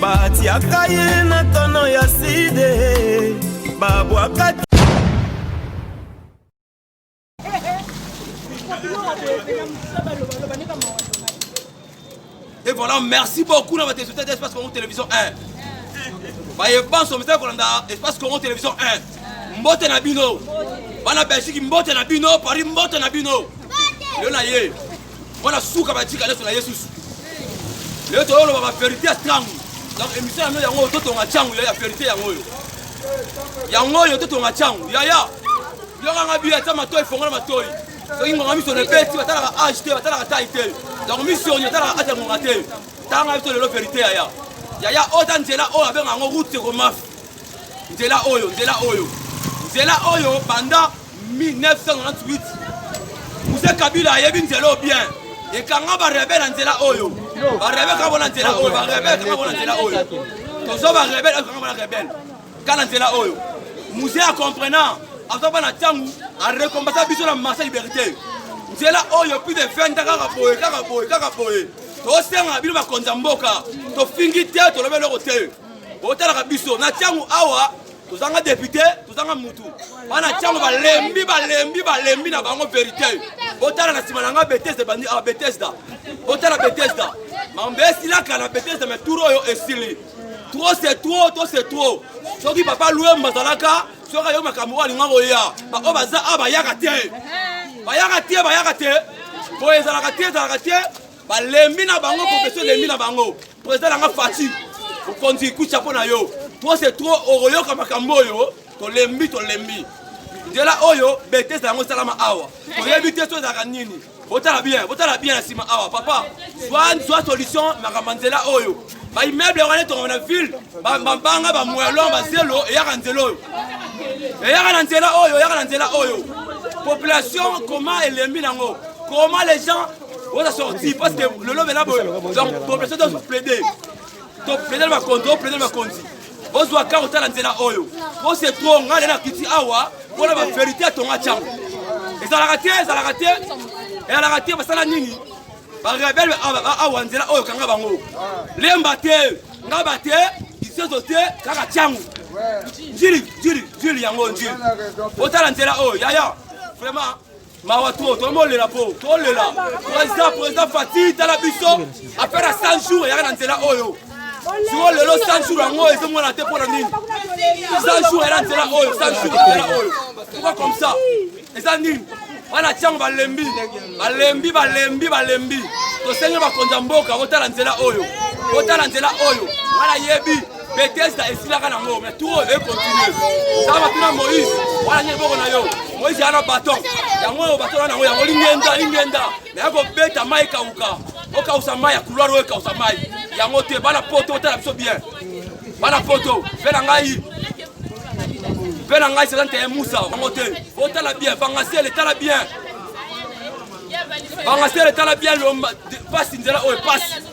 batiaka ye na tono ya side babwaka Et voilà, merci beaucoup na bateso tete espace Congo Télévision 1. Baye banso misa kolanda espace Congo Télévision 1. Mbote na bino. Bana Belgique mbote na bino, Paris mbote na bino. Yo na ye. wana suka batika leso na yesus lelo toyoloba baverité ya ntango donc émission yango yango oyo totonga ntango ya verité yango oyo yango oyo totonga ntango yaya yokanga biya ata matoi fongola matoi soki ngonga miso na ebeti batalaka age te batalaka tai te donc miso oyo etalaka ata ngonga te tanga biso lelo verité yaya yaya oyo ta nzela oyo abenga yango route sekomafi nzela oyo nzela oyo nzela oyo banda 1998 muse kabila ayebi nzela oyo bien ekanga barebele na nzela oyo barebele kaka bona nzela oyo barebele kaka bona nzela oyo tozo barebele kaka bona rebele kaka na nzela oyo muse ya comprenant aza bana ntango arekombasa biso na marsa liberté nzela oyo plus de 20 kaka boye kaka boye kaka boye tosenga bino bakonzi ya mboka tofingi te tolobi eloko te botalaka biso na ntango awa tozanga depute tozanga mutu bana tiango balembi balembi balembi na bango verite botala na nsima na nga betesda bandi a ah, betesda botala betesda mambe esilaka na betesda me tour oyo esili trop c'est trop to c'est trop soki papa luemba azalaka soki ayo makambo oyo alinga koya baoyo baza a ah, bayaka te bayaka te bayaka te boye ezalaka te ezalaka te balembi na bango kopesa elembi na bango President nanga Fatshi, okonzi coup chapeau na yo. Trop c'est trop okoyoka makambo oyo tolembi tolembi. Nzela oyo betesa yango esalama awa. Toyebi te so ezalaka nini. Botala bien, botala bien na nsima awa papa. Zwa zwa solution makambo nzela oyo. Ba immeuble wana etonga na ville, ba mabanga ba mwelon ba zelo eyaka nzela oyo. Eyaka na nzela oyo, eyaka na nzela oyo. Population comment elembi nango? Comment les gens oza sorti parce que lelo bela boye donc population doit plaider to plaider bakonzi o plaider bakonzi ozwa kaka otala nzela oyo po se tro ngai nde nakiti awa mpona baverité atonga ntango ezalaka te ezalaka te ezalaka te basala nini barebele awa nzela oyo kanga bango lemba te ngaba te isezo te kaka ntango njili njili njili yango njili otala nzela oyo yaya vraiment mawa trop tomolela po tolela président président fati tala biso affaire ya 100 jours eyaka na nzela oyo siko lelo 100 jours yango oyo ezomona te mpo na nini 100 jours ela nzela oyo 100 jours nzela oyo pourquoi comme ça eza nini wana tiango balembi balembi balembi balembi tosengi bakonzi ya mboka otala nzela oyo otala nzela oyo wana yebi Bethesda esilaka nango mais tour e continue zala matuna Moïse wana nye liboko na yo Moïse yana baton yango oyo baton wana yango yango lingenda lingenda mais akobeta mai ekauka okausa mai ya couloir oyo ekausa mai yango te bana poto otala biso bien bana poto mpe na ngai mpe na ngai sezante ya musa yango te otala bien vangasele tala bien vangasele tala bien lomba pasi nzela oyo pasi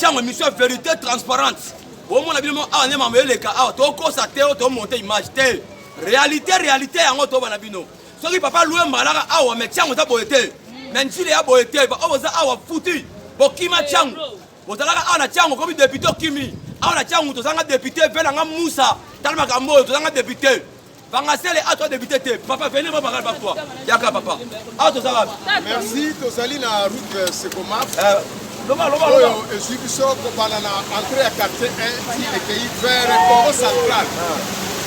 Tiango emission verite transparente. Bomona bino awa ah, ne mambo eleka awa ah, tokosa te to monter image te. Réalité réalité yango to bana bino. Soki papa loue malaka awa ah, mais tiango za boye te. Mais njile ya boye te ba oza awa futi. Bokima tiango. Bozalaka awa na tiango komi député okimi. Awa na tiango tozanga député vela nga Musa. Tala makambo oyo tozanga député. Bangasele ato a débuté te. Papa venez moi bagarre par toi. Yaka papa. Ato za wapi? Merci tozali na route euh, Sekomaf. Euh, loba loba loba. Oyo ezwi biso kobanda na entrée ya quartier 1 ti ekeyi vers Congo central.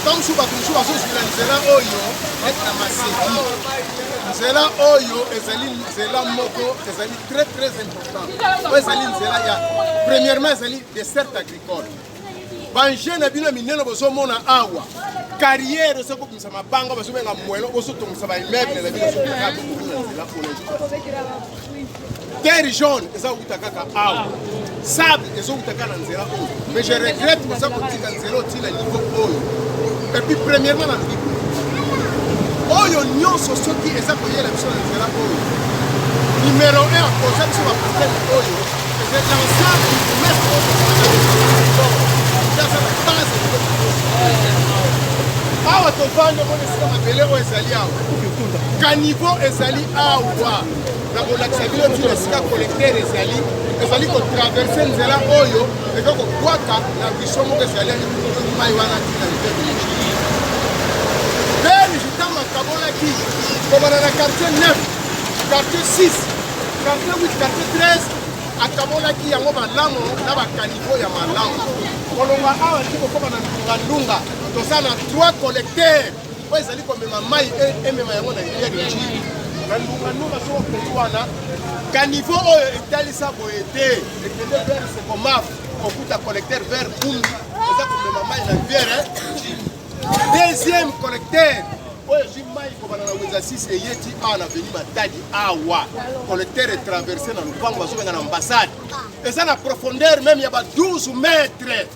Tant mosusu bato mosusu bazozwi na nzela oyo ete na maseki. Nzela oyo ezali nzela moko ezali très très important. Oyo ezali nzela ya premièrement ezali desserte agricole. banje na bino ya minene bozomona awa carrière osi kobimisa mabanga bazobenga mwelo bozotongisa baimmeuble na bino terre jaune eza kouta kaka awa sable ezowuta kaka na nzela oyo mais je regrette boza kotika nzela otii na niveau oyo epuis premièrement nalobi oyo nyonso soki eza koyela biso na nzela oyo numero 1 akoza biso baproblème oyo awa tovanda omona esika mabele oyo ezali awa kanivo ezali awa na kolakisa bino ntina esika kolektere ezali ezali kotraverse nzela oyo eza kobwaka na biso moko ezali mai wana ntina beni vitama kabolaki kobana na quartier 9 quartier 6 Quartier 8, quartier 13 akabolaki yango malamu na bakanivo ya malamu. Kolongwa awa ti kokoma na ndungandunga, toza na trois collecteurs oyo ezali komema mai e, emema yango na rivière Ituri na ndungandunga soko okei wana kanivo oyo etalisa boye te ekende vers sekomaf kokuta collecteur vers bumbi eza komema mai na rivière Deuxième collecteur oyo ezwi mai kobanda na wenza 6 eye ti awa na veni matadi awa collecteur etraverse na lopango bazobenga na ambassade eza na profondeur meme ya ba 12 mètre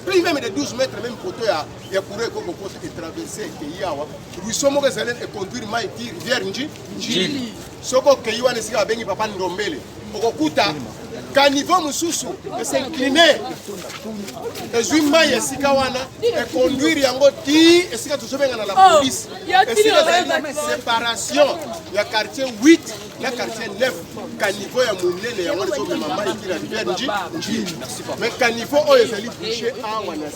plus meme de 12 mètre meme poto ya, ya courant ekoko poto etraverse ekeyi awa ruisseau moko ezali econduire mai ti rivière nji njili soki okeyi wana esika babengi papa ndombele okokuta kanivo mosusu esincline ezwi mai esika wana econduire yango ti esika tozobenga na la oh, police esika ezali séparation ya quartier 8 na quartier 9 kanivo ya monene yango ezomema mai kila rivière nji nji mais kanivo oyo ezali bouche awa na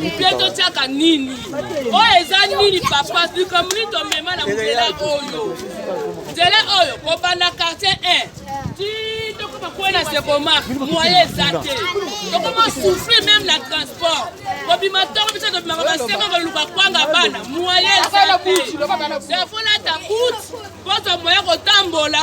mpe totyaka nini oyo eza nini papa likambo nini tomema na nzela oyo nzela oyo kobanda quartier 1 ti tokoma kwe na sekomar moye eza te tokoma souffrir meme na transport kobima ntongo biso tobimaka baseko koluka kwanga bana moye eza te defo nata bout mposo moye kotambola